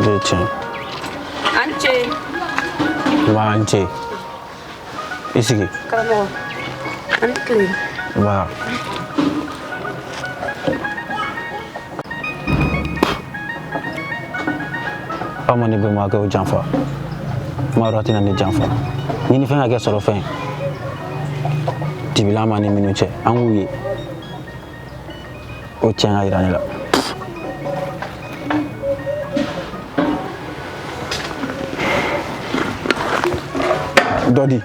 Leche. Anche. Manche. i sigi. karamɔgɔ. Ano to eh? Diba? aw ma ne bɛnbakɛ o janfa maa dɔ tɛna ne janfa ni ni fɛn ka kɛ sɔrɔ fɛn ye dibi la maa ni minnu cɛ an k'u ye o tiɲɛ ka yira ne la dɔ di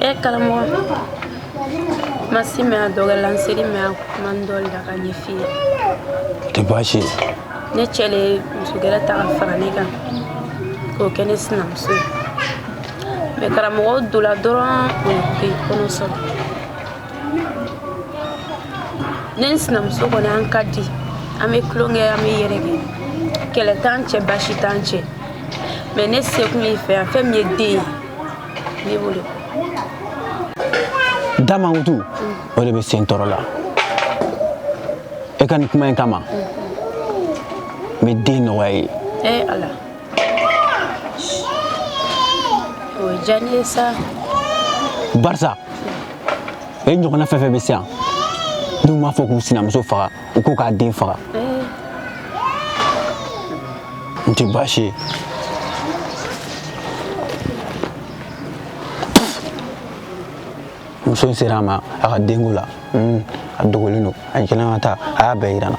e karamɔgɔ ma se i ma a dogo la n sera i ma a kuma n dɔ la k'a ɲɛf'i ye tɛ baasi ye ne cɛ le ye muso gɛrɛ ta ka fara ne kan k'o kɛ ne sinamuso ye mɛ karamɔgɔ donna dɔrɔn o ye kɔnɔ sɔrɔ ne ni n sinamuso kɔni an ka di an bɛ tulon kɛ an bɛ yɛlɛ kɛ kɛlɛ t'an cɛ baasi t'an cɛ mɛ ne sekun ye i fɛ yan fɛn min ye den ye ne b'o de da mankutu o de bɛ sen tɔɔrɔ la e ka nin kuma in kama n bɛ den nɔgɔya ye ee ala o ye diya ne ye sa barisa e ɲɔgɔnna fɛn fɛn bɛ se yan n'u m'a fɔ k'u sinamuso faga u ko k'a den faga n tɛ baasi ye muso in sera a ma a ka denko la a dogolen don a jɛlen ka taa a y'a bɛɛ yira n na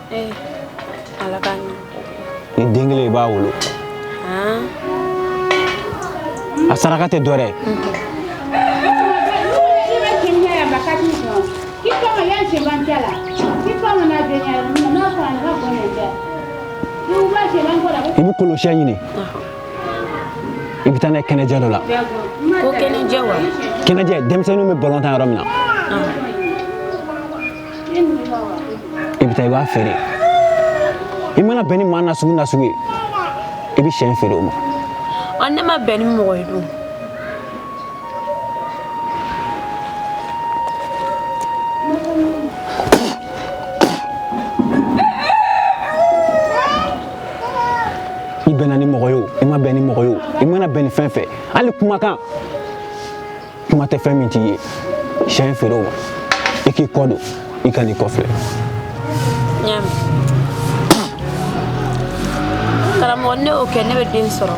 ee ala ka ɲɛ ni den kelen i b'a wolo a saraka tɛ dɔ dɛ i bɛ kolosiyɛn ɲini i bɛ taa n'a ye kɛnɛjɛ dɔ la kɛnɛjɛ denmisɛnninw bɛ balon tan yɔrɔ min na i bɛ taa i b'a feere i mana bɛn ni maa nasugu nasugu ye i bɛ siyɛn feere o ma ɔ ne ma bɛn ni mɔgɔ ye dun i bɛnna ni mɔgɔ ye o i ma bɛn ni mɔgɔ ye o i mana bɛn ni fɛn fɛn hali kumakan kuma tɛ fɛn min t'i ye sɛ in feere o ma i k'i kɔ don i kan'i kɔfilɛ karamɔgɔ ne y'o kɛ ne bɛ den sɔrɔ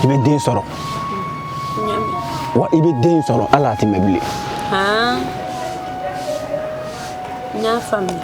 i bɛ den sɔrɔ wa i bɛ den sɔrɔ hali a tɛ mɛn bilen n y'a faamuya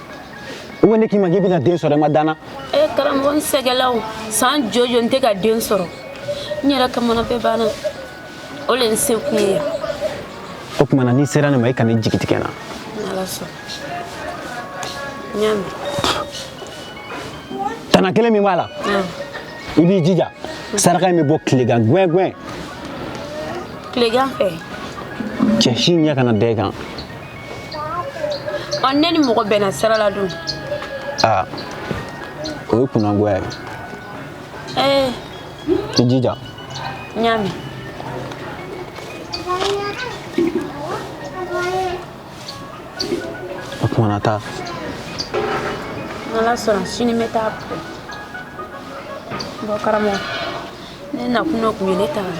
ou bien ne k'i ma k'i bɛna den sɔrɔ i ma danna e eh, karamɔgɔ n sɛgɛla o san jɔjɔ n tɛ ka den sɔrɔ n yɛrɛ kamana bɛɛ ganna o le n se kun ye yan o tuma na n'i sera ne ma i kana i jigi tigɛ n'ala sɔnna n y'a mɛn tana kelen min b'a la i b'i jija saraka in bɛ bɔ tilegan gwɛngwɛn tilegan fɛ cɛ si ɲɛ kana da i kan ɔ ne ni mɔgɔ bɛnna sira la dun aa o ye kunnangoya ye ee i jija n y'a mɛn o tuma na taa n'ala sɔnna sini n bɛ taa bɔ bɔ karamɔgɔ ne nakun dɔ tun ye ne taara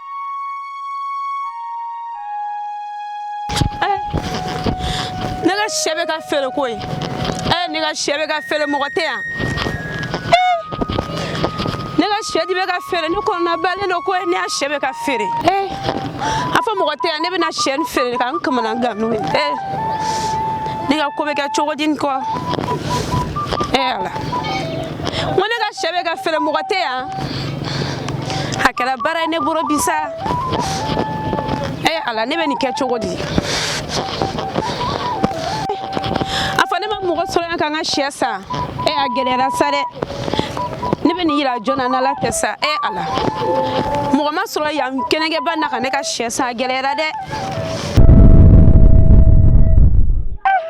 ne ka sɛ bɛ ka feere koyi ee ne ka sɛ bɛ ka feere mɔgɔ tɛ yan ne ka sɛ de bɛ ka feere ne kɔnɔnabalen don ko ne ka sɛ bɛ ka feere ee a fɔ mɔgɔ tɛ yan ne bɛna sɛ nin feere ka n kamana gan n'o ye ee ne ka ko bɛ kɛ cogo di nin kɔ ee ala n ko ne ka sɛ bɛ ka feere mɔgɔ tɛ yan a kɛra baara ye ne bolo bi sa e ala ne bɛ nin kɛ cogo di a fɔ ne ma mɔgɔ sɔrɔ yan ka n ka sɛ san e a gɛlɛyara sa dɛ ne bɛ nin yira jɔn na n'ala tɛ sa e ala mɔgɔ ma sɔrɔ yan kɛnɛgɛba na ka ne ka sɛ san a gɛlɛyara dɛ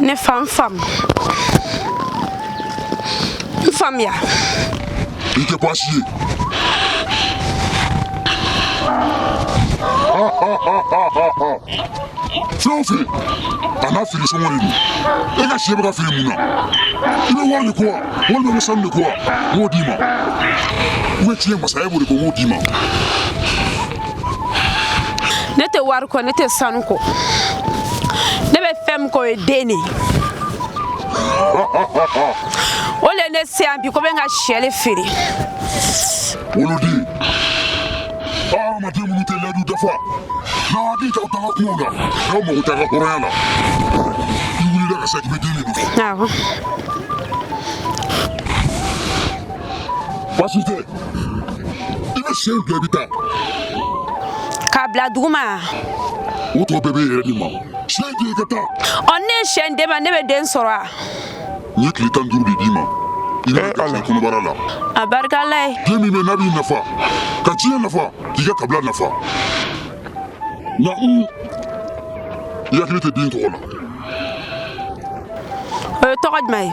ne fa n fam n faamuya i tɛ baasi ye fɛn o fɛn a n'a feere sɔngɔ de don e ka sɛ bɛ ka feere mun na i bɛ wari de ko wa walima i bɛ sanu de ko wa n b'o d'i ma ou bien tiɲɛ masaya b'o de ko n b'o d'i ma ne tɛ wari kɔ ne tɛ sanu kɔ ne bɛ fɛn min kɔ o ye den de ye o le ne se yan bi ko n bɛ n ka sɛ le feere. woloden hadamaden minnu tɛ layidu dafa n'aw hakili t'aw taga kungo la n'aw mago t'a ka hɔrɔnya la i wulila ka sa k'i bɛ den de nɔfɛ. Baasi tɛ, i bɛ sɛ di i bɛ taa. K'a bila duguma. O tɔ bɛɛ bɛ yɛrɛ de ma. Sɛ di i ka taa. Ɔ ne ye sɛ d'e ma ne bɛ den sɔrɔ wa. N ye tile tan duuru de d'i ma. I bɛ garisɛgɛ kɔnɔbara la. A barika Ala ye. Den min bɛ n'a b'i nafa ka diɲɛ nafa k'i ka kabila nafa. Nka un i hakili tɛ den tɔgɔ la. O ye tɔgɔ jumɛn ye.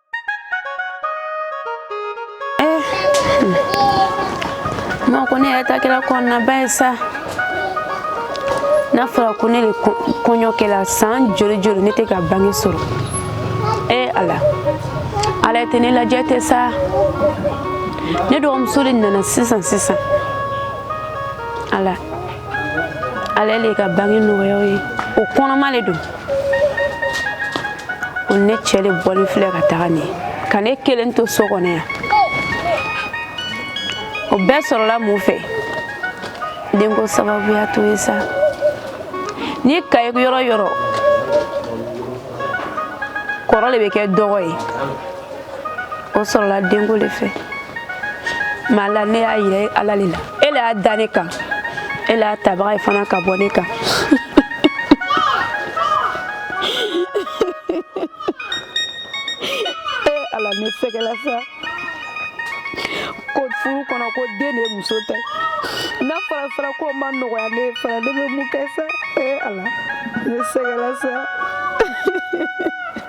ma ko ne yɛrɛ ta kɛla kɔnɔnaba ye sa n'a fɔra ko ne le kɔɲɔ kɛla san joli joli ne tɛ ka bange sɔrɔ ee ala ala e tɛ ne lajɛ tɛ sa ne dɔgɔmuso le nana sisan sisan ala y'ale ka bange nɔgɔya a ye o kɔnɔma le don o ne cɛ le bɔlen filɛ ka taga nin ka ne kelen to so kɔnɔ yan o bɛɛ sɔrɔla mun fɛ denko sababuya to ye sa n'i k'a ye yɔrɔ yɔrɔ kɔrɔ le bɛ kɛ dɔgɔ ye o sɔrɔla denko le fɛ maala ne y'a yira ala le la e le y'a da ne kan e le y'a tabaga ye fana k'a bɔ ne kan e ala ne sɛgɛla sa ko furu kɔnɔ ko den de ye muso ta n'a fɔra fara ko ma nɔgɔya ne fana ne bɛ mun kɛ sa e ala ne sɛgɛla sa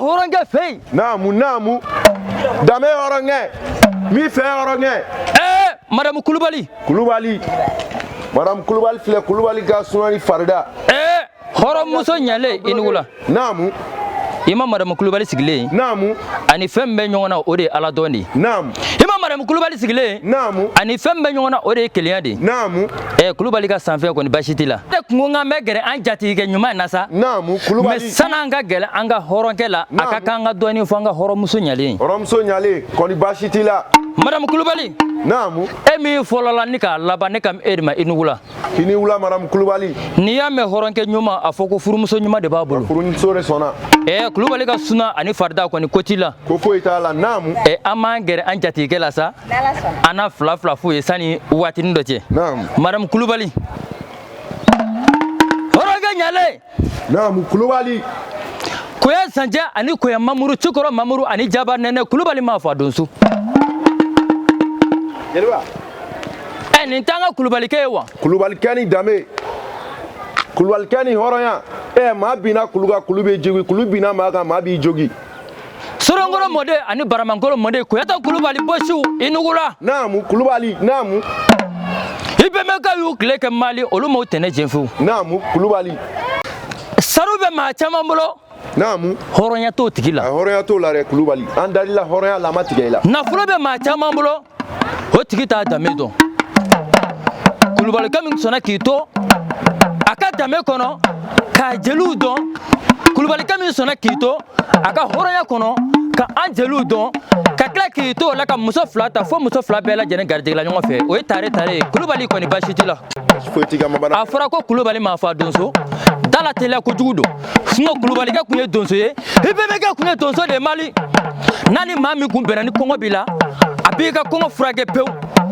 hɔrɔnkɛ fɛ yen. naamu naamu danbe hɔrɔnkɛ min fɛ hɔrɔnkɛ. ɛɛ madamu kulubali. kulubali madamu kulubali filɛ kulubali ka sunani farida. ɛɛ. hɔrɔnmuso ɲalen i nugu la naamu i ma madamu kulubali sigilen naamu ani fɛn min bɛ ɲɔgɔn na o de ye ala dɔn de ye naamu i ma madamu kulubali sigilen naamu ani fɛn min bɛ ɲɔgɔn na o de ye kelenya de ye naamu ɛ kulubali ka sanfɛ kɔni basi t'i la ne kun ko k'an bɛ gɛrɛ an jatigikɛ ɲuman in na sa naamu kulubali mɛ san'an ka gɛrɛ an ka hɔrɔnkɛ la a ka kan ka dɔɔnin fɔ an ka hɔrɔnmuso ɲalen hɔrɔnmuso ɲalen kɔni basi t'i la madamu kulubali naamu e min fɔlɔla ni k'a laban ne kan b'e de ma i nugu la i ni wula madamu kulubali n'i y'a mɛn hɔrɔnkɛ ɲuman a fɔ ko furumuso ɲuman de b'a bolo furumuso de sɔnna ɛɛ kulubali ka suna ani farida kɔni ko t'i la ko foyi t'a la naamu ɛ an b'an gɛrɛ an jatigikɛ la sa an na fila fila f'u ye sanni waatinin dɔ cɛ naamu madamu kulubali hɔrɔnkɛ ɲalen Naamu kulubali koya sancɛ ani koya mamuru cikɔrɔ mamuru ani jaba nɛnɛ kulubali maa fa donso jeliba ɛ eh, nin t'an ka kulubalikɛ ye wa kulubalikɛ ni danbe kulubalikɛ ni hɔrɔnya ɛ eh, maa binna kulu kan kulu bɛ jogin kulu binna maa kan maa b'i jogin Sorongolo mɔden ani baramankolo mɔden koyata kulubali bosiw i nugula naamu kulubali naamu i bɛnbɛkɛw y'u tile kɛ mali olu m'u tɛnɛ cɛn fewu naamu kulubali sanu bɛ maa caman bolo naamu hɔrɔnya t'o tigi la hɔrɔnya t'o la dɛ kulubali an dalila hɔrɔnya la a ma tigɛ i la nafolo bɛ maa caman bolo o tigi t'a danbe dɔn kulubalikɛ min sɔnna k'i to a ka danbe kɔnɔ k'a jeliw dɔn kulubalikɛ min sɔnna k'i to a ka hɔrɔnya kɔnɔ ka an jeliw dɔn ka tila k'i to o la ka muso fila ta fo muso fila bɛɛ lajɛlen garijɛgɛla ɲɔgɔn fɛ o ye tare tare ye kulubali kɔni baasi t'i la a fɔra ko kulubali maa fa donso dalateliya kojugu don sinɔn kulubalikɛ kun ye donso ye i bɛnbɛkɛ kun ye donso de ye mali n'a ni maa min kun bɛnna ni kɔngɔ b'i la a b'i ka kɔngɔ furakɛ pewu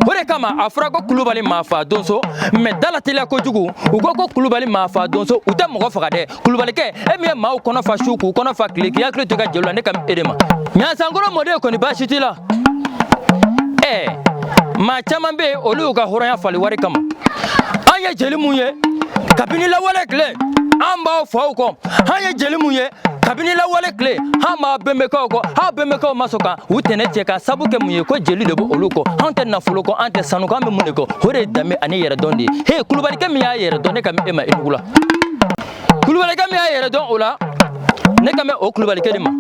o de kama a fɔra ko kulubali maa fa donso mɛ dalateliya kojugu u ko ko kulubali maa fa donso u tɛ mɔgɔ faga dɛ kulubalikɛ e min ye maaw kɔnɔ fa su k'u kɔnɔ fa tile k'i hakili to i ka jeliw la ne kan b'e de ma ɲansankɔrɔ mɔden kɔni baasi t'i la ɛɛ maa caman bɛ yen olu y'u ka hɔrɔnya falen wari kama an ye jeli mun ye kabini lawale tile an b'aw faw kɔ an ye jeli mun ye kabini lawale tile an b'aw bɛnbɛkɛw kɔ aw bɛnbɛkɛw ma sɔn ka u tɛnɛ cɛ k'a sabu kɛ mun ye ko jeli de bɛ olu kɔ an tɛ nafolo kɔ an tɛ sanu kɔ an bɛ mun de kɔ o de ye danbe ani yɛrɛdɔn de ye he kulubalikɛ min y'a yɛrɛ dɔn ne kan bɛ e ma i nugu la kulubalikɛ min y'a yɛrɛ dɔn o la ne kan bɛ o kulubalikɛ de ma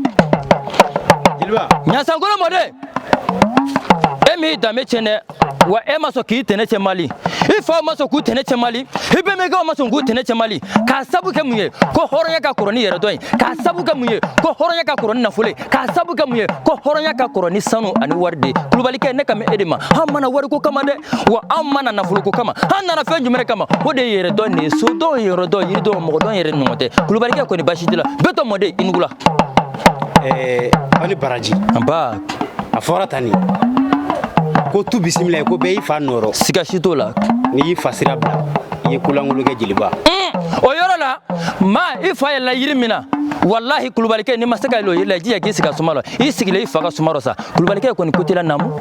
ɲasankolo mɔden e m'i danbe tiɲɛ dɛ wa e ma sɔn k'i tɛnɛ cɛ mali i faw ma sɔn k'u tɛnɛ cɛ mali i bɛnbɛkɛw ma sɔn k'u tɛnɛ cɛ mali k'a sabu kɛ mun ye ko hɔrɔnya ka kɔrɔ ni yɛrɛdɔn ye k'a sabu kɛ mun ye ko hɔrɔnya ka kɔrɔ ni nafolo ye k'a sabu kɛ mun ye ko hɔrɔnya ka kɔrɔ ni sanu ani wari de ye kulubalikɛ ne kan bɛ e de ma an ma na wariko kama dɛ wa an ma na nafolo ko kama an nana fɛn jumɛn kama o de ye yɛrɛdɔn de ye sodɔn yɔrɔdɔn yiridɔn mɔgɔdɔn yɛrɛ ɲɔgɔn tɛ kulubalikɛ kɔni baasi t'i la bitɔn mɔden i nugula eh, aw ni baraji anba a fɔra tan nin ko tu bisimila ye ko bɛɛ y'i fa nɔ rɔ siga si t'o la n'i y'i fa sira bila i ye kolankolon kɛ jeliba mm, o yɔrɔ la ma i fa yɛlɛla yiri min na walahi kulubalikɛ n'i ma se ka yɛlɛ o yiri la i jija k'i sigi a suma la i sigilen i fa ka suma rɔ sa kulubalikɛ kɔni ko t'i la naamu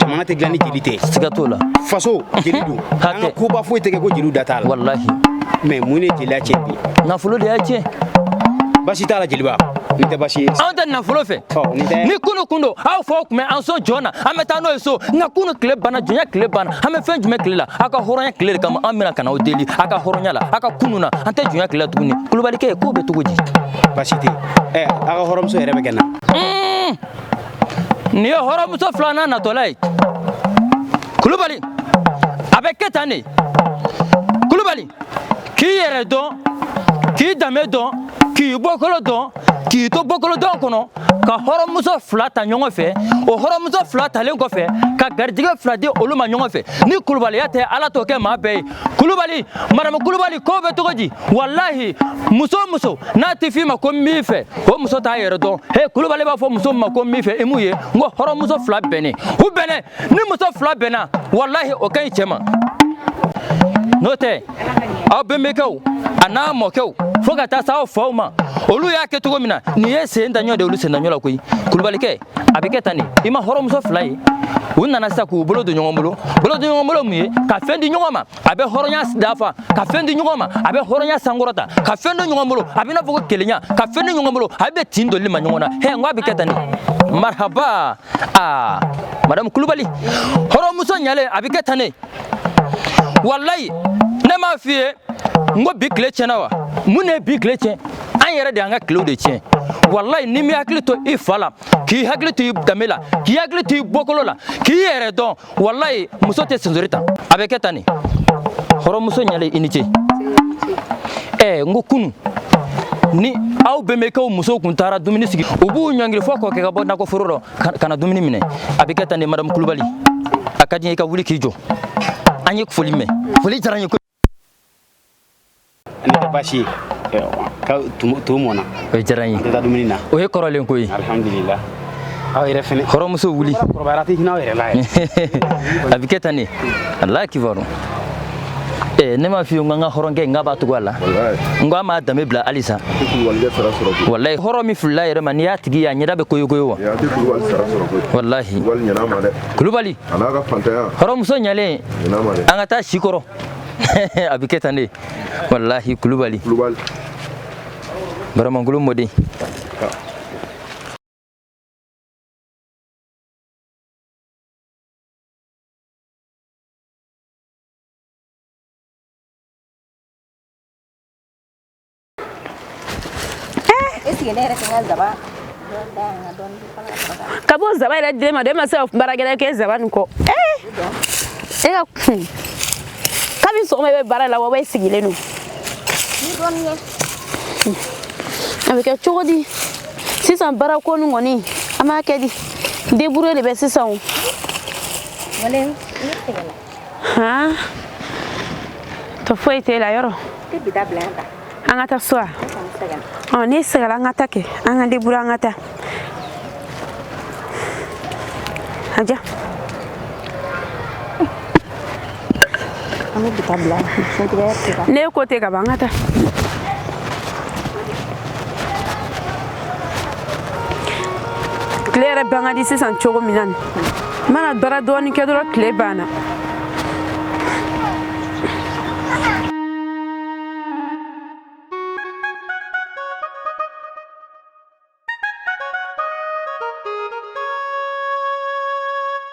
jamana tɛ dilan ni jeli tɛ siga t'o la faso jeli don an ka koba foyi tɛ kɛ ko jeliw da t'a la walahi mais mun ne jeliya tiɲɛ bi nafolo de y'a tiɲɛ basi t'a la jeliba nin tɛ basi ye anw tɛ nafolo fɛ ni kunu kun don aw faw tun bɛ an sɔn jɔn na an bɛ taa n'o ye so nka kunu tile banna jɔnya tile banna an bɛ fɛn jumɛn tile la aw ka hɔrɔnya tile de kama an bɛna ka na aw deli aw ka hɔrɔnya la aw ka kunu na an tɛ jɔnya tile la tuguni kulubalikɛ k'o bɛ cogo di basi tɛ ɛ aw ka hɔrɔnmuso yɛrɛ bɛ kɛ na nin ye hɔrɔnmuso filanan natɔla ye kulubali a bɛ kɛ tan de kulubali k'i yɛrɛ dɔn k'i danbe dɔn k'i bɔkolo dɔn k'i to bɔkolo dɔn kɔnɔ ka hɔrɔnmuso fila ta ɲɔgɔn fɛ o hɔrɔnmuso fila talen kɔfɛ ka garijɛgɛ fila di olu ma ɲɔgɔn fɛ ni kulubaliya tɛ ala t'o kɛ maa bɛɛ ye kulubali madamu kulubali k'o bɛ cogo di walahi muso o muso n'a tɛ f'i ma ko n b'i fɛ o muso t'a yɛrɛ dɔn he kulubali b'a fɔ muso ma ko n b'i fɛ i m'u ye n ko hɔrɔnmuso fila bɛnnen u bɛnnen ni muso fila bɛnna walahi o ka ɲi cɛ ma n'o tɛ aw bɛnbakɛw a n'aw mɔkɛw fo ka taa se aw faw ma olu y'a kɛ cogo min na nin ye sen daɲɔ de olu sen daɲɔ la koyi kulubalikɛ a bɛ kɛ tan de i ma hɔrɔnmuso fila ye u nana sa k'u bolo don ɲɔgɔn bolo bolo don ɲɔgɔn bolo mun ye ka fɛn di ɲɔgɔn ma a bɛ hɔrɔnya dafa ka fɛn di ɲɔgɔn ma a bɛ hɔrɔnya sankɔrɔta ka fɛn don ɲɔgɔn bolo a bɛ n'a fɔ ko kelenya ka fɛn di ɲɔgɔn bolo a bɛ tin don i maa ɲɔgɔn na hɛ n ko a bɛ kɛ tan de marahaba aa madamu kulubali hɔrɔnmuso ɲalen a bɛ kɛ tan de walayi ne m'a f'i ye n ko bi tile tiɲɛna wa mun de ye bi tile tiɲɛ an yɛrɛ de y'an ka tilew de tiɲɛ walayi n'i m'i hakili to i fa la k'i hakili to i danbe la k'i hakili to i bɔkolo la k'i yɛrɛ dɔn walayi muso tɛ sensori ta a bɛ kɛ tan de hɔrɔnmuso ɲalen i ni ce ɛɛ n ko kunu ni aw bɛnbakɛw musow kun taara dumuni sigi u b'u ɲɔngiri fɔ k'o kɛ ka bɔ nakɔ foro rɔ ka na dumuni minɛ a bɛ kɛ tan de madamu kulubali a ka di n ye i ka wuli k'i jɔ an ye foli mɛn foli diyara n ye baasi ka to mɔna o diyara n ye taa dumuni na o ye kɔrɔlen ko ye alhamdulila aw yɛrɛ fɛnɛ hɔrɔnmuso wuli kɔrɔbayara tɛ hinɛ aw yɛrɛ la a bɛ kɛ tan de ala kibaru Eh, ne m'a f'i ye n ko an ka hɔrɔnkɛ n k'a b'a tugu a la n ko a m'a danbe bila halisa walayi hɔrɔn min filila a yɛrɛ ma n'i y'a tigi ye a ɲɛda bɛ koyokoyo wa walahi kulubali a n'a ka hɔrɔnmuso ɲalen an ka taa sikɔrɔ a bɛ kɛ tan de walahi kulubali baramangolo mɔden ka bɔ zaba yɛrɛ dilen ma dɛ e ma se ka baara wɛrɛ kɛ zaba nin kɔ e ka kun kabini sɔgɔma i bɛ baara la wa i sigilen don a bɛ kɛ cogo di sisan baarako nin kɔni an b'a kɛ di debure de bɛ sisan o han tɔ foyi t'e la yɔrɔ an ka taa so a ɔ n'i sɛgɛla an ka taa kɛ an ka debure an ka taa a ja ne ko tɛ ka ban an ka taa tile yɛrɛ ban ka di sisan cogo min na n'i mana baara dɔɔni kɛ dɔrɔn tile banna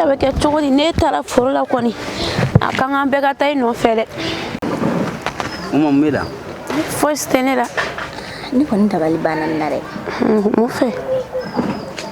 A bɛ kɛ cogo di ne taara foro la kɔni a ka kan bɛɛ ka taa i nɔfɛ dɛ fosi tɛ ne la ne kɔni dabali banna n na dɛ mun fɛ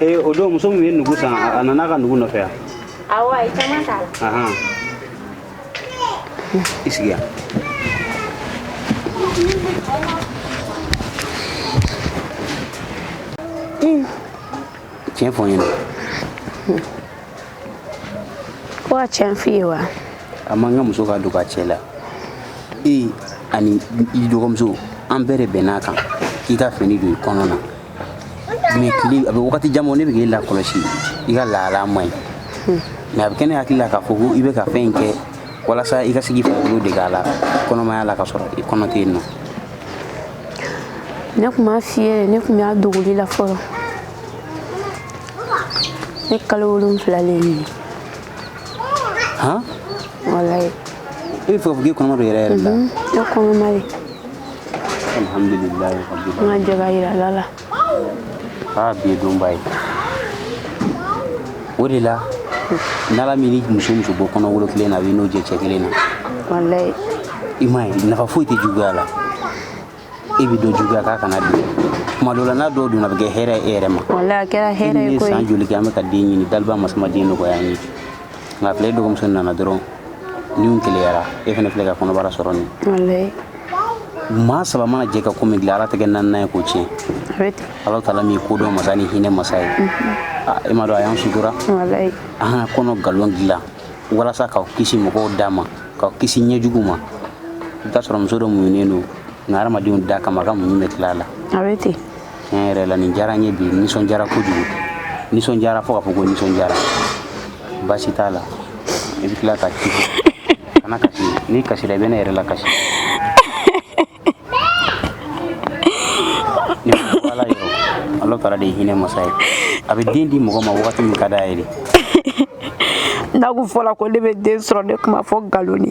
ee o don muso min ye nugu san a nana a ka nugu nɔfɛ yan awɔ a ye caman t'a la ahan i sigi yan tiɲɛ fɔ n ɲɛna ko n ka tiɲɛ f'i ye wa a man kan muso ka don ka cɛ la e ani i dɔgɔmuso an bɛɛ de bɛnn'a kan k'i ka fini don i kɔnɔ na mɛ tile a bɛ wagati jan bɔ ne bɛ k'i lakɔlɔsi i ka lahala man ɲi hmm. mɛ a bɛ kɛ ne hakili la k'a fɔ ko i bɛ ka fɛn in kɛ walasa i ka se k'i farikolo dege a la kɔnɔmaya la ka sɔrɔ i kɔnɔ tɛ yen nɔ ne tun m'a f'i ye ne tun b'a dogoli la fɔlɔ ne kalo wolonwula le ye han walayi i bɛ fɛ k'a fɔ k'i kɔnɔma don yɛrɛ yɛrɛ la mhm, ne kɔnɔma de alhamdulillah rabbil an ka jɛ k'a yira ala la aa bi ye donba ye o de la n'ala m'i ni muso muso bɔ kɔnɔ wolo kelen na a b'i n'o jɛ cɛ kelen na walayi i m'a ye nafa foyi tɛ juguya la e bɛ dɔ juguya k'a kana don tuma dɔ la n'a dɔw donna a bɛ kɛ hɛrɛ ye e yɛrɛ ma walayi a kɛra hɛrɛ ye koyi san joli kɛ an bɛ ka den ɲini daliba masa ma den nɔgɔya an ye nka a filɛ dɔgɔmuso nana dɔrɔn Nin keleyara e fana filɛ ka kɔnɔbara sɔrɔ nin ye maa saba mana jɛ ka ko min dilan Ala tɛ kɛ naaninan ye k'o tiɲɛ Alahu taala min ye kodɔn masa ni hinɛ masa ye e m'a dɔn a y'an sutura an ka kɔnɔ nkalon dilan walasa k'aw kisi mɔgɔw da ma k'aw kisi ɲɛjugu ma i bɛ t'a sɔrɔ muso dɔ muɲunen don nka hadamadenw da kama a ka muɲu bɛ tila a la. tiɲɛ yɛrɛ la nin diyara n ye bi nisɔndiyara kojugu nisɔndiyara fo ka fɔ ko nisɔndiyara baasi t'a la i bɛ tila ka kasi kana kasi n'i kasira i bɛ ne yɛrɛ lakasi ne ko ala yɔrɔ ala taala de ye hinɛ masa ye a bɛ den di mɔgɔ ma wagati min ka d'a ye de n'a kun fɔla ko ne bɛ den sɔrɔ ne tun b'a fɔ nkalon de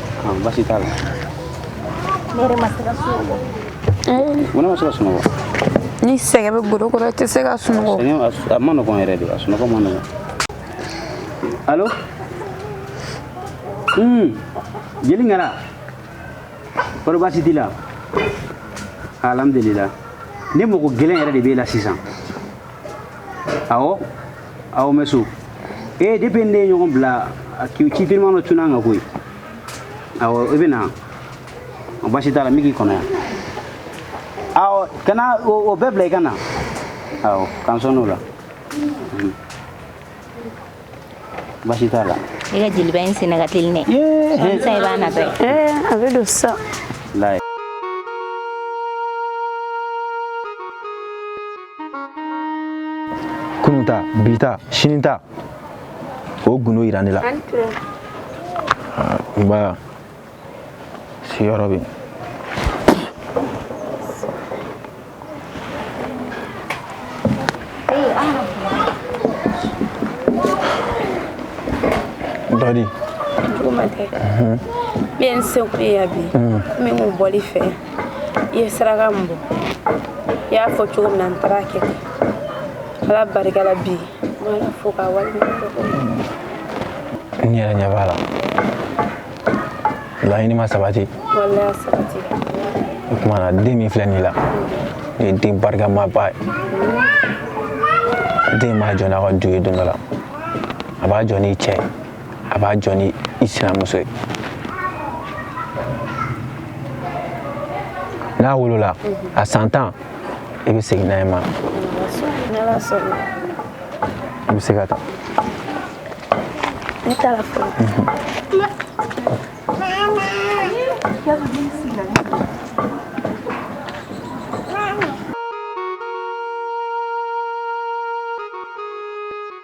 ah, basi t'a la ne yɛrɛ ma se ka sunɔgɔ mun na ma se ka sunɔgɔ ni sɛgɛn bɛ golo kɔrɔ i tɛ se ka sunɔgɔ sɛgɛn a su- a ma nɔgɔn yɛrɛ de a sunɔgɔ ma nɔgɔn alo Hmm, jeli ŋara kɔrɔ baasi t'i la alhamdulila ne mago gɛlɛn yɛrɛ de b'e la sisan awɔ awɔ n bɛ so ee depuis ne ye ɲɔgɔn bila ci teliman dɔ cunna n kan koyi awɔ i bɛ na basi t'a la n bɛ k'i kɔnɔ yan awɔ kana o bɛɛ bila i ka na awɔ k'an sɔɔni o la basi t'a la i ka jeliba in senna ka teli dɛ sisan i b'a natɔ ye a bɛ don sisan kunun ta bi ta sini ta o gundo yira ne la n ba sigiyɔrɔ bɛ yen Bari. Juguman tɛ. N bɛ n seko ye yan bi. N bɛ n bɔli fɛ. i ye saraka min bɔ i y'a fɔ cogo min na n taar'a kɛ ten ala barika la bi n b'ala fo k'a waleɲuman dɔn n yɛrɛ ɲɛ b'a la laɲini ma sabati waleya sabati o tuma na den min filɛ nin la nin ye den barikamaba ye den b'a jɔ n'a ka du ye don dɔ la a b'a jɔ n'i cɛ ye a b'a jɔ ni i sinamuso ye n'a wolola a san tan i bɛ segin n'a ye n ma i bɛ se ka taa ne taara fɔlɔ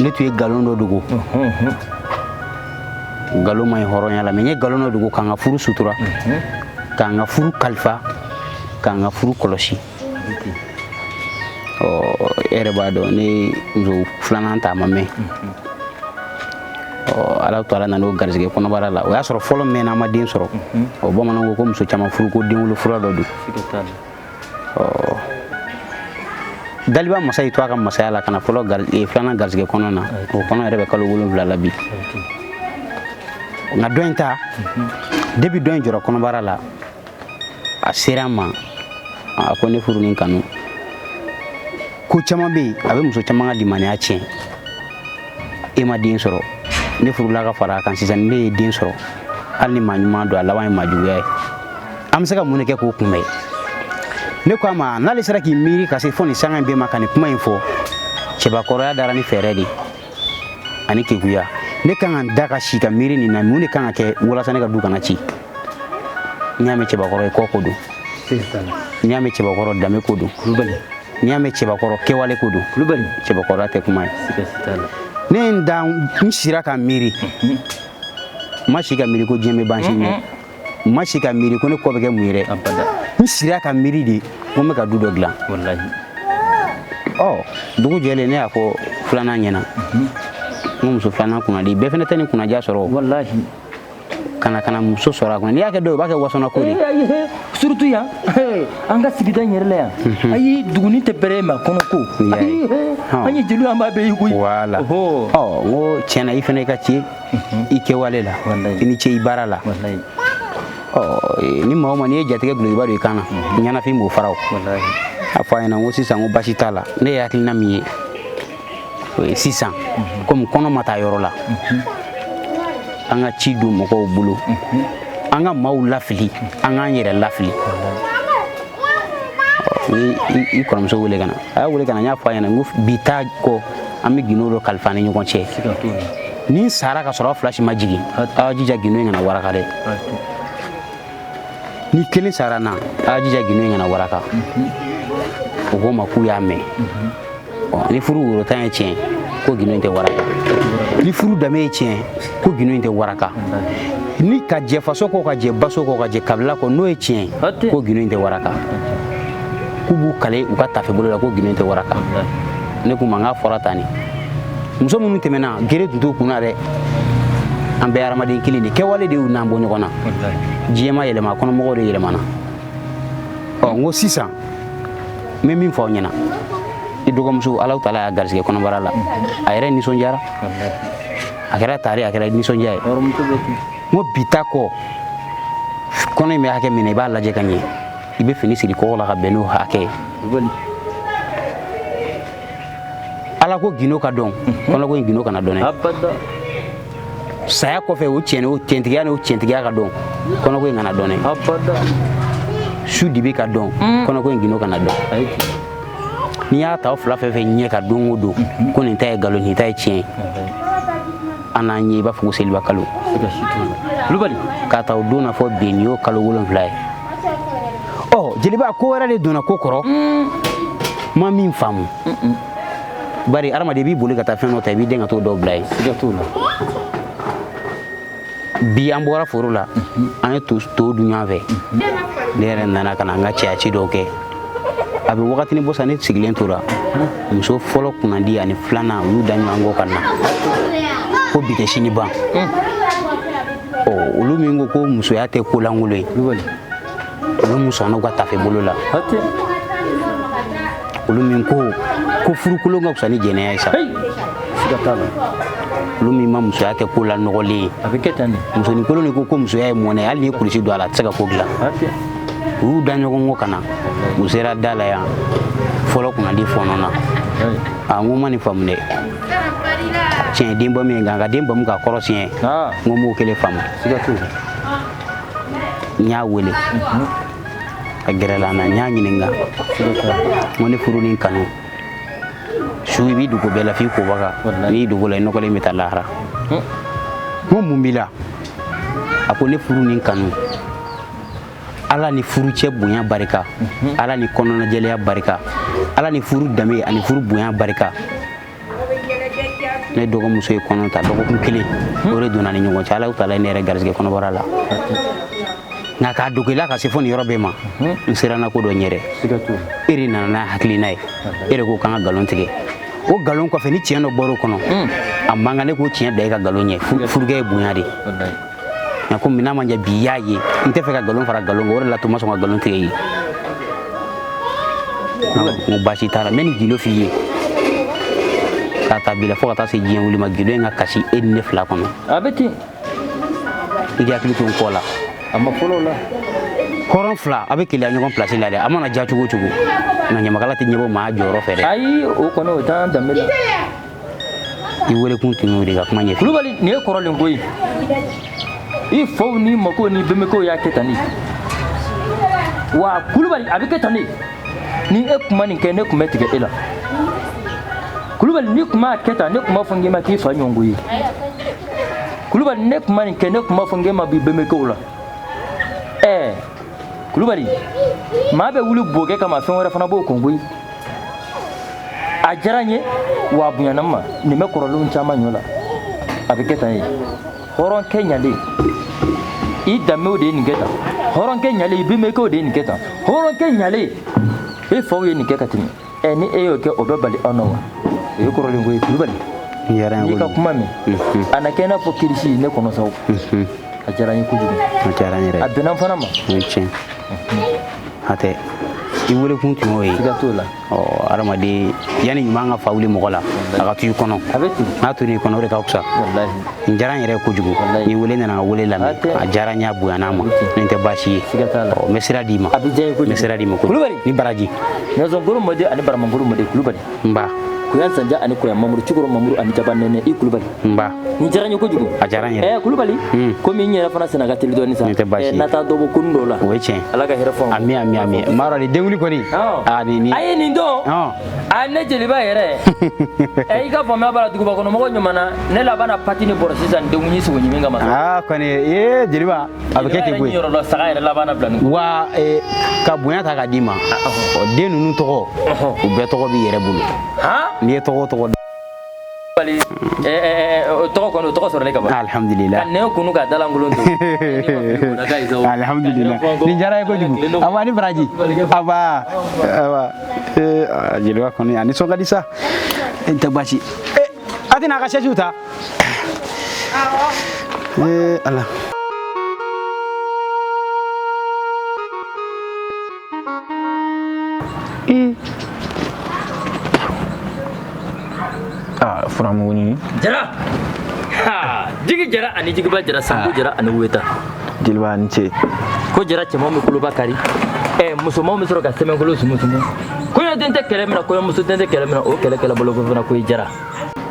ne tun ye nkalon dɔ dogo nkalon man ɲi hɔrɔnya la mɛ n ye nkalon dɔ dogo k'an ka furu sutura k'an ka furu kalifa k'an ka furu kɔlɔsi ɔ e yɛrɛ b'a dɔn ne muso filanan ta a ma mɛn ala to ala nana o garisɛgɛ kɔnɔbara la o y'a sɔrɔ fɔlɔ mɛnna a ma den sɔrɔ o bamananw ko ko muso caman furu ko denwolo fura dɔ don daliba masa y'i to a ka masaya la ka na fɔlɔ eh, filanan garisɛgɛ kɔnɔ na o kɔnɔ yɛrɛ bɛ kalo wolonwula la bi nka dɔ in ta depi dɔ in jɔra kɔnɔbara la a sera n ma a ko ne furu ni kanu ko caman bɛ yen a bɛ muso caman ka limaniya tiɲɛ e ma den sɔrɔ ne furula ka fara a kan sisan ne ye den sɔrɔ hali ni maa ɲuman don a laban ye maa juguya ye an bɛ se ka mun de kɛ k'o kunbɛn ne ko a ma n'ale sera k'i miiri ka se fo nin sanga in bɛɛ ma ka nin kuma in fɔ cɛbakɔrɔya dara ni fɛɛrɛ de ani keguya ne kan ka n da ka si ka miiri nin na mun de kan ka kɛ walasa ne ka du kana ci n'i y'a mɛn cɛbakɔrɔ kɔ ko don n'i y'a mɛn cɛbakɔrɔ danbe ko don kulubali n'i y'a mɛn cɛbakɔrɔ kɛwale ko don kulubali cɛbakɔrɔ tɛ kuma ye ne ye n da n sira ka miiri n ma si ka miiri ko diɲɛ bɛ ban sini dɛ n ma si ka miiri ko ne kɔ bɛ kɛ mun ye dɛ n sira ka miiri de ko n bɛ ka du dɔ dilan ɔ dugu jɛlen ne y'a fɔ filanan ɲɛna n muso filanan kunnadi bɛɛ fana tɛ nin kunnaja sɔrɔ ka na ka na muso sɔrɔ a kɔnɔ n'i y'a kɛ dɔw b'a kɛ wasona ko de surutu yan an ka sigida in yɛrɛ la yan mhm. ayi duguni tɛ bɛrɛ ma kɔnɔ ko an ye jeliw an b'a bɛɛ ye koyi wala ɔ n ko tiɲɛna i fana i ka ci mhm. i kɛwale la i ni ce i baara la ɔ e, ni maa o maa n'i ye jatigɛ gulokiba don i kan na mhm. ɲɛnafin b'o fara o a fɔ a ɲɛna n ko sisan n ko basi t'a la ne ye hakilina min ye o ye sisan komi kɔnɔ ma taa yɔrɔ la an ka ci don mɔgɔw bolo an ka maaw lafili an k'an yɛrɛ lafili i kɔrɔmuso wele ka na a y'a wele ka na n y'a fɔ a ɲɛna n ko bi taa kɔ an bɛ gindo dɔ kalifa an ni ɲɔgɔn cɛ ni n sara ka sɔrɔ aw fila si ma jigin aw jija gindo in kana waraka dɛ ni kelen sara an na a y'a jija gindo in kana waraka o ko n ma k'u y'a mɛn ni furu woro tan ye tiɲɛ ko gindo in tɛ waraka ni furu danbe ye tiɲɛ ko gindo in tɛ waraka ni ka jɛ faso kɔ ka jɛ baso kɔ ka jɛ kabila kɔ n'o ye tiɲɛ ye ko gindo in tɛ waraka k'u b'u kale u ka tafe bolo la ko gindo in tɛ waraka ne k'u ma n k'a fɔra tan ne muso minnu tɛmɛna gere tun t'u kun na dɛ an bɛɛ hadamaden kelen de kɛwale de y'u n'an bɔ ɲɔgɔn na diɲɛ ma yɛlɛma kɔnɔmɔgɔw de yɛlɛmana ɔ n ko sisan n bɛ min fɔ aw ɲɛna i dɔgɔmuso alahu taala y'a garisɛgɛ kɔnɔbara la a yɛrɛ nisɔndiyara a kɛra tare a kɛra nisɔndiya ye n ko bi ta kɔ kɔnɔ in bɛ hakɛ min na i b'a lajɛ ka ɲɛ i bɛ fini siri kɔgɔ la ka bɛn n'o hakɛ ye alako gindo ka dɔn kɔnɔko in gindo kana dɔn dɛ saya kɔfɛ o tiɲɛ n'o tiɲɛtigiya ka dɔn kɔnɔko in kana dɔn dɛ su dibi ka dɔn mm. kɔnɔko in gindo kana dɔn n'i y'a ta o fila fɛn fɛn ɲɛ k'a dɔn o don ko nin ta ye nkalon nin ta ye tiɲɛ ye an n'an ye i b'a fɔ ko seliba kalo kulubali k'a ta o don na fo bi nin y'o kalo wolonfila ye ɔ jeliba ko wɛrɛ de donna ko kɔrɔ mm. ma min faamu bari adamaden b'i boli ka taa fɛn dɔ ta i b'i den ka tɔ dɔw bila yen siga t'o la bi an bɔra foro la mm-hmm. an ye to dun ɲɔgɔn fɛ mm-hmm. ne yɛrɛ nana ka na n ka cɛyaci dɔw kɛ a bɛ wagatini bɔ sa ne sigilen tora muso fɔlɔ kunnandi ani filanan u y'u da ɲɔgɔn kɔ ka na ko bi tɛ sini ban olu min ko ko musoya tɛ ko lankolon ye olu min sɔnna u ka tafe bolo la olu min ko ko furukolon ka fisa ni jɛnɛya ye sa olu min ma musoya kɛ ko lanɔgɔlen ye musoninkolon de ko ko musoya ye mɔnɛ hali ni kulusi don a la a tɛ se ka ko dilan u y'u da ɲɔgɔn kɔ ka na u sera da la yan fɔlɔ kunnandi fɔɔnɔna a n ko n ma nin faamu dɛ tiɲɛ den bamu ye nka ka den bamu ka kɔrɔ siɲɛ n ko n m'o kelen faamu n y'a wele a gɛrɛla n na n y'a ɲininka n ko ne furu ni kanu su i b'i dogo bɛɛ la f'i kobaga n'i dogo la i nɔgɔlen bɛ taa lahara n ko mun b'i la a ko ne furu ni kanu ala ni furucɛ bonya barika mhm. ala ni kɔnɔnajɛlɛya barika ala ni furu danbe ani furu bonya barika ne dɔgɔmuso ye kɔnɔ ta dɔgɔkun kelen mhm. o de donn'an ni ɲɔgɔn cɛ ala taala ye ne yɛrɛ garisɛgɛ kɔnɔbara la nka k'a dogo e la ka se fo nin yɔrɔ bɛɛ ma mhm. n siranna ko dɔ ɲɛ de e de nana n'a hakilina ye e de ko k'an ka nkalon tigɛ o nkalon kɔfɛ ni tiɲɛ dɔ bɔr'o kɔnɔ hmm. a man kan ne k'o tiɲɛ bila e ka nkalon ɲɛ furukɛ ye bonya de ye nka ko min ma ɲɛ bi y'a ye n tɛ fɛ ka nkalon fara nkalon kan o de la to n ma sɔn ka nkalon tigɛ i ye n ko baasi t'a la n bɛ nin gindo f'i ye k'a ta bi la fo ka taa se diɲɛ wuli ma gindo in ka kasi e ni ne fila kɔnɔ a bɛ ten i k'i hakili to n kɔ la a ma fɔlɔ la hɔrɔn fila a bɛ keleya ɲɔgɔn pilasi la dɛ a mana ja cogo o cogo nka ɲamakala tɛ ɲɛbɔ maa jɔyɔrɔ fɛ dɛ ayi o kɔni o t'an danbe la i wele kun tun y'o de ka kuma ɲɛfɔ kulubali nin ye kɔrɔlen ko ye i faw ni makow ni bɛnbɛkɛw y'a kɛ tan ne wa kulubali a bɛ kɛ tan ne ni e tun ma nin kɛ ne tun bɛ tigɛ e la kulubali ni tun m'a kɛ tan ne tun b'a fɔ n k'i ma k'i fa ɲɔgɔnko ye kulubali n'e tun ma nin kɛ ne tun b'a fɔ n k'e ma b'i bɛnbɛkɛw la ɛɛ kulubali maa bɛ wuli bokɛ kama fɛn wɛrɛ fana b'o kɔn koyi a diyara n ye wa a bonyana n ma nin bɛ kɔrɔlenw caman ɲɔ la a bɛ kɛ tan ye hɔrɔnkɛ ɲalen i danbew de ye nin kɛ tan hɔrɔnkɛ ɲalen i bɛnbɛkɛw de ye nin kɛ tan hɔrɔnkɛ ɲalen e faw ye nin kɛ ka tɛmɛ ɛ ni e y'o kɛ o bɛ bali an na wa o ye kɔrɔlen ko ye kulubali n'i ka kuma mɛn a na kɛ i n'a fɔ kirisi ne kɔnɔ saw a diyara n ye kojugu a bɛnna n fana ma hatɛ i wele kun tun y'o ye siga t'o la ɔ adamaden yanni ɲuman ka fa wuli mɔgɔ la a ka to i kɔnɔ a bɛ ten n'a tor'i kɔnɔ o de ka fisa n diyara n yɛrɛ kojugu n'i wele nana n ka wele lamɛn a diyara n y'a bonyana n ma nin tɛ baasi ye siga t'a la ɔ n bɛ sira d'i ma a bɛ diya n ye kojugu n bɛ sira d'i ma kulubali ni baraji nɛgɛsɔnkuru mɔden ani baramangolo mɔden kulubali nba koyan sanja ani koyan mamuru cogokɔrɔ mamuru ani jaba nɛnɛ i kulubali nba n diyara n ye kojugu a diyara n yɛrɛ kulubali hmm. komi n yɛrɛ fana senna ka teli dɔɔni sa tɛ baasi na taa dɔ bɔ kun dɔw la o ye tiɲɛ ala ka hɛrɛ fɔ ami ami ami maa dɔ ni denwuli kɔni a ni ni a ye nin dɔn a ne jeliba yɛrɛ ɛ i ka faamuya b'a la duguba kɔnɔ mɔgɔ ɲuman na ne labanna pati ni bɔrɔ sisan denwuli sogo ɲimi kama aa kɔni ee jeliba a bɛ kɛ ten koyi wa eh, ka bonya ta k'a d'i ma den ninnu tɔgɔ u bɛɛ tɔgɔ b'i yɛrɛ bolo n'i ye tɔgɔ o tɔgɔ d'a la eh, eh, eh, tɔgɔ kɔni tɔgɔ sɔrɔlen ka ban alhamdulillah ka nɛn kunu ka da lankolon to alhamdulillah nin diyara n ye kojugu aw ni baraji awa awa jeliba kɔni a nisɔn ka di sa tɛ baasi a tɛna a ka sɛsiw ta Eh, ala. Eh. Ah, furamugu ni. Jara. Ha, jigi jara ani jigi ba jara sango ah. jara ani weta. Jeliba ni ce. Ko jara cɛman bɛ koloba kari. Ɛ eh, musomanw bɛ sɔrɔ ka sɛmɛkolo sumusumu. Kɔnɛ den tɛ kɛlɛ min na kɔnɛmuso den tɛ kɛlɛ min na o kɛlɛ kɛlɛ bolo ko fana ko i jara.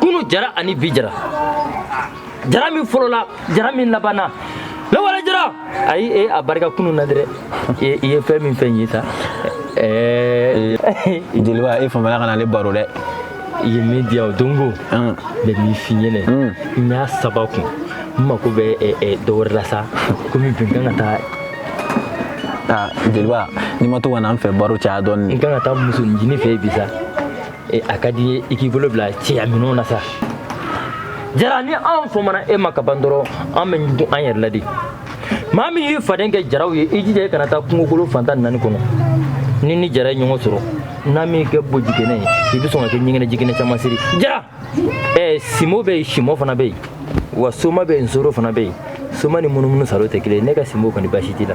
kunu jara ani bi jara jara min fɔlɔla jara min labanna lawale jara ayi e a barika kunu na dɛrɛ i ye fɛn min fɔ n ye sa jeliba e famana kana ale baro dɛ i ye min diya o dongo n bɛ min f'i ɲɛna n y'a saba kun n mako bɛ dɔ wɛrɛ la sa komi bi n kan ka taa jeliba n'i ma to ka na n fɛ baro caya dɔɔni n kan ka taa muso ɲini fɛ yen bi sa e a ka di ye i k'i bolo bila cɛya minɛnw na sa jara ni anw famana e ma ka ban dɔrɔn an bɛ ɲugu an yɛrɛ la de maa min y'i faden kɛ jaraw ye i jija i kana taa kungokolo fan tan ni naani kɔnɔ ni ni jara ye ɲɔgɔn sɔrɔ n'a m'i kɛ bo jiginɛ ye i bɛ sɔn ka kɛ ɲɛgɛnɛ jiginɛ caman siri jara ɛɛ simo bɛ yen simɔ fana bɛ yen wa soma bɛ yen nsoro fana bɛ yen soma ni munumunu salo tɛ kelen ye ne ka simo kɔni baasi t'i la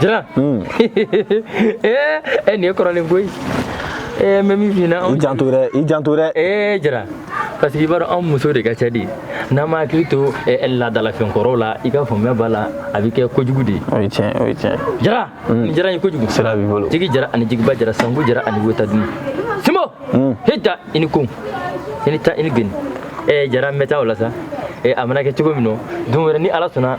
jara e nin ye kɔrɔlen koyi ee n bɛ min f'i ɲɛna i janto dɛ i janto dɛ ee jara parce que i b'a dɔn anw muso de ka ca de n'an ma hakili to laadalafɛn kɔrɔw la i ka faamuya b'a la a bɛ kɛ kojugu de ye o ye tiɲɛ o ye tiɲɛ jara nin jara ye kojugu sira b'i bolo jigi jara ani jigiba jara sanku jara ani wota dun simo hita i ni ko i ni ta i ni geni ee jara n bɛ taa o la sa ee a mana kɛ cogo min na don wɛrɛ ni ala sɔnna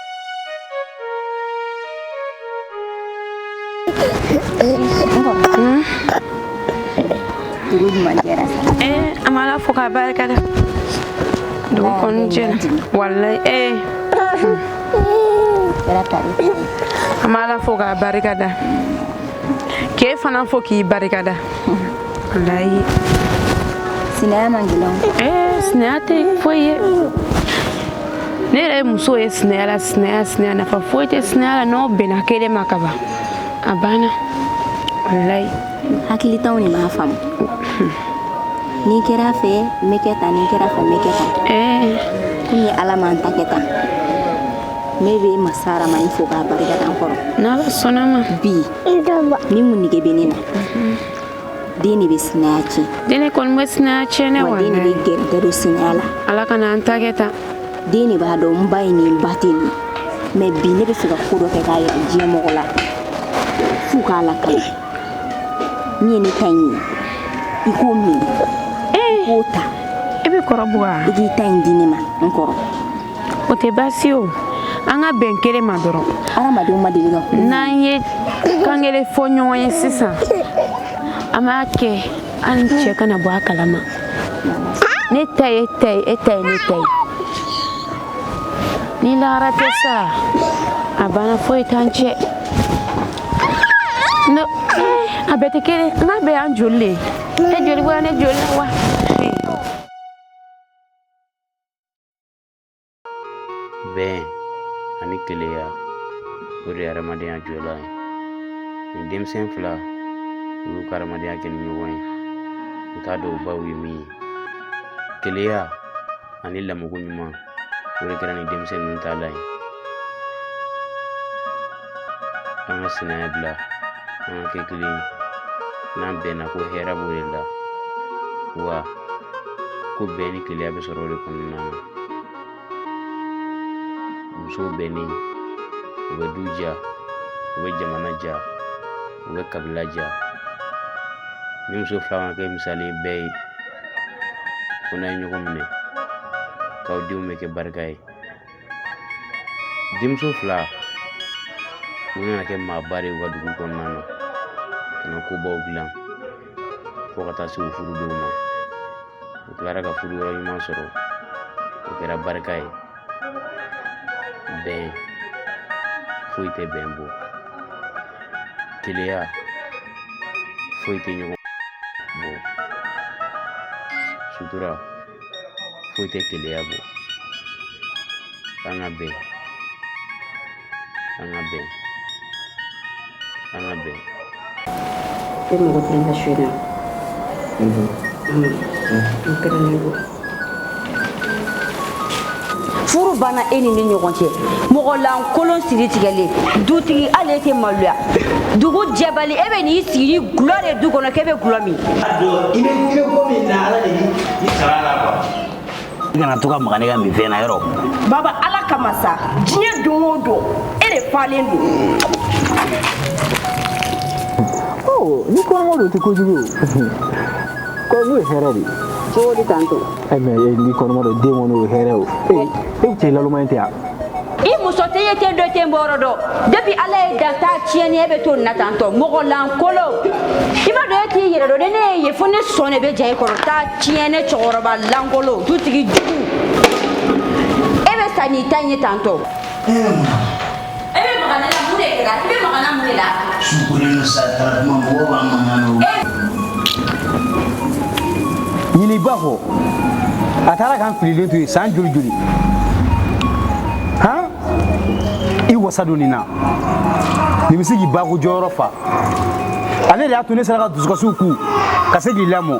Eh, an b'ala fo k'a barika da dugu kɔni jɛra walayi ee an b'ala fo k'a barika da k'e fana fo k'i barika da walayi sinaya man gɛlɛn ee sinaya tɛ foyi ye ne yɛrɛ ye muso ye sinaya la sinaya sinaya nafa foyi tɛ sinaya la n'aw bɛnna kelen ma kaban a banna walayi hakilitanw de b'a faamu n'i kɛra fɛ n bɛ kɛ tan n'i kɛra fɛ n bɛ kɛ tan kɔni ala m'an ta kɛ tan ne bɛ masa aramani fo k'a barika da n kɔrɔ n'ala sɔnna ma bi ni mun nege bɛ ne na den de bɛ sinaya tiɲɛ den de kɔni bɛ sinaya tiɲɛ dɛ wa den de bɛ gɛrɛgɛrɛ don sinaya la ala kan'an ta kɛ tan den de b'a dɔn n ba ye nin ba tɛ nin mɛ bi ne bɛ fɛ ka ko dɔ kɛ k'a yira diɲɛ mɔgɔ la f'u k'a lakali min ye ne ta in ye i k'o min i k'o ta i bɛ kɔrɔbuga i k'i ta in di ne ma n kɔrɔ o tɛ baasi o an ka bɛn kelen ma dɔrɔn hadamadenw ma deli ka n'an ye kan kelen fɔ ɲɔgɔn ye sisan an b'a kɛ an cɛ kana bɔ a kalama ne ta y'e ta ye e ta ye ne ta ye ni lahara tɛ sa a banna foyi t'an cɛ no a bɛɛ tɛ kelen nka bɛɛ y'an joli le ye e joli wa ne joli wa bɛn ani keleya o de ye hadamadenya jɔlan ye nin denmisɛn fila u y'u ka hadamadenya kɛ ni ɲɔgɔn ye u t'a dɔn u baw ye min ye keleya ani lamɔko ɲuman o de kɛra nin denmisɛn ninnu taalan ye an ka sinaya bila an ka kɛ kelen ye n'an bɛnna ko hɛrɛ b'o de la wa ko bɛn ni keleya bɛ sɔrɔ o de kɔnɔna na musow bɛnnen u bɛ du diya u bɛ jamana diya u bɛ kabila diya nin muso fila ka kɛ misali bɛɛ ye ko n'a ye ɲɔgɔn minɛ k'aw denw bɛ kɛ barika ye denmuso fila u nana kɛ maaba de ye u ka dugu kɔnɔna na ka na kobaw dilan fo ka taa se u furu don ma u tilara ka furu yɔrɔ ɲuman sɔrɔ o kɛra barika ye bɛn foyi tɛ bɛn bɔ keleya foyi tɛ ɲɔgɔn bɔ sutura foyi tɛ keleya bɔ k'an ka bɛn an ka bɛn an ka bɛn tɛ mɔgɔ kelen ka su na n kɛra ne bɔ furu banna e ni ne ɲɔgɔn cɛ mɔgɔ lankolon siri tigɛlen dutigi hali e tɛ maloya dugu jɛbali e bɛ n'i sigi ni gulɔ de du kɔnɔ k'e bɛ gulɔ min. a don i bɛ i bɛ ko min na ala de b'i sara la quoi. i kana to ka maga ne ka minfɛn na yɔrɔ. baba ala kama sa diɲɛ don o don e de falen don. ɔ ni kɔngɔ don o tɛ kojugu ye kɔngɔ ye hɛrɛ de ye. cogo di tantɔ. e mɛ e n'i kɔnɔma don den kɔni o hɛrɛ o ee e bɛ cɛ naloma in tɛ yan i muso tɛ ye ten dɔ ten bɔrɔ dɔ depuis ala y'e dan ta tiɲɛnen e bɛ to nin na tantɔ mɔgɔ lankolo i b'a dɔn e t'i yɛrɛ dɔn ni ne y'e ye fo ne sɔn de bɛ ja e kɔrɔ ta tiɲɛnen cɛkɔrɔba lankolo dutigi jugu e bɛ sa n'i ta in ye tantɔ ɲini b'a fɔ a taara k'an fililen to yen san joli joli han i wasa don nin na nin bɛ se k'i ba ko jɔyɔrɔ fa ale de y'a to ne sera ka dusukasiw kun ka se k'i lamɔ